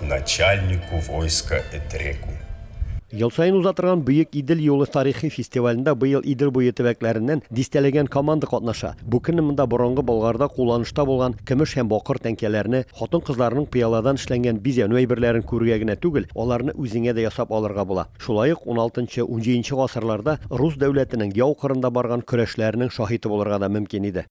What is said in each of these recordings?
Начальнику войска этреку. Ел саен уза торган Бөек Идел юлы тарихи фестивалендә быел Идел буе төбәкләреннән дистәләгән команда катнаша. Бу көнне монда борынгы Болгарда кулланышта булган көмеш һәм бакыр тәңкәләрне, хатын-кызларның пыяладан эшләнгән бизәнү әйберләрен күрергә генә түгел, аларны үзеңә дә ясап алырга була. Шулай ук уналтынчы-унҗиденче гасырларда рус дәүләтенең яу кырында барган көрәшләренең шаһиты булырга да мөмкин иде.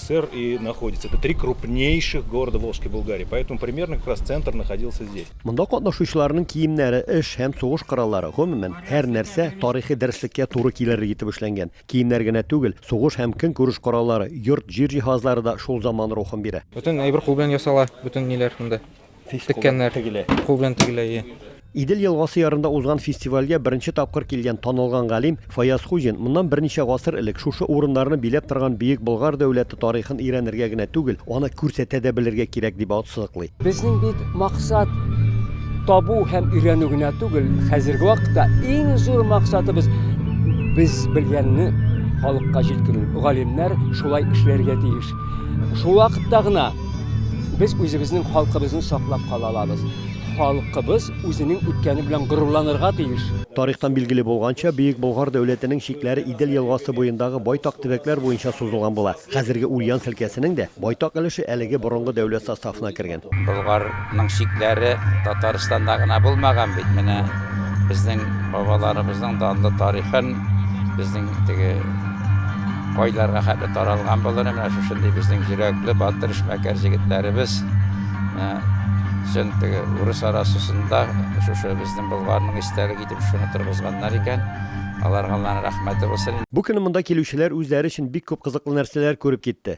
ссср и находится это три крупнейших города волжской булгарии поэтому примерно как раз центр находился здесь Монда катнашучыларның киемнәре, эш һәм сугыш кораллары, гомумән, һәр нәрсә тарихи дәреслеккә туры килерлек итеп эшләнгән. Киемнәр генә түгел, сугыш һәм көнкүреш кораллары, йорт, җир җиһазлары да шул заман рухын бирә. Бөтен әйбер кул белән ясала, бөтен ниләр монда. Теккәннәр. Кул белән тегелә. Идел елгасы ярында узган фестивальгә беренче тапкыр килгән танылган галим Фаяз Хуҗин моннан берничә гасыр элек шушы урыннарны биләп торган Бөек Болгар дәүләте тарихын өйрәнергә генә түгел, аны күрсәтә дә белергә кирәк, дип ассызыклый. Безнең бит максат табу һәм өйрәнү генә түгел, хәзерге вакытта иң зур максатыбыз, без белгәнне халыкка җиткерү. Галимнәр шулай эшләргә тиеш. Шул вакытта гына без үзебезнең халкыбызны саклап кала алабыз. Халкыбыз үзенең үткәне белән горурланырга тиеш. Тарихтан билгеле булганча, Бөек Болгар дәүләтенең чикләре Идел елгасы буендагы байтак төбәкләр буенча сузылган була. Хәзерге Ульян өлкәсенең дә байтак өлеше әлеге борынгы дәүләт составына кергән. Болгар Моның чикләре Татарстанда гына булмаган бит. Менә безнең бабаларыбызның данлы тарихын, безнең теге кайларга хәтле таралган булыр, менә шушындый безнең йөрәкле, батыр, эшмәкәр җегетләребез өчен теге урыс арасысында шушы безнең Болгарның истәлек итеп шуны торгызганнар икән. Аларга Алланың рәхмәте булсын. Бу көнне монда килүчеләр үзләре өчен бик күп кызыклы нәрсәләр күреп китте.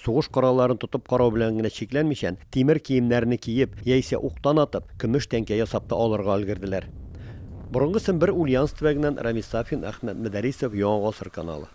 Сугыш коралларын тотып карау белән генә чикләнмичән, тимер киемнәрне киеп, яисә уктан атып, көмеш тәңкә ясап та алырга өлгерделәр. Борынгы Сембер Ульяновск төбәгеннән Рамис Сафин, Әхмәт Мөдәрисов, Яңа гасыр каналы.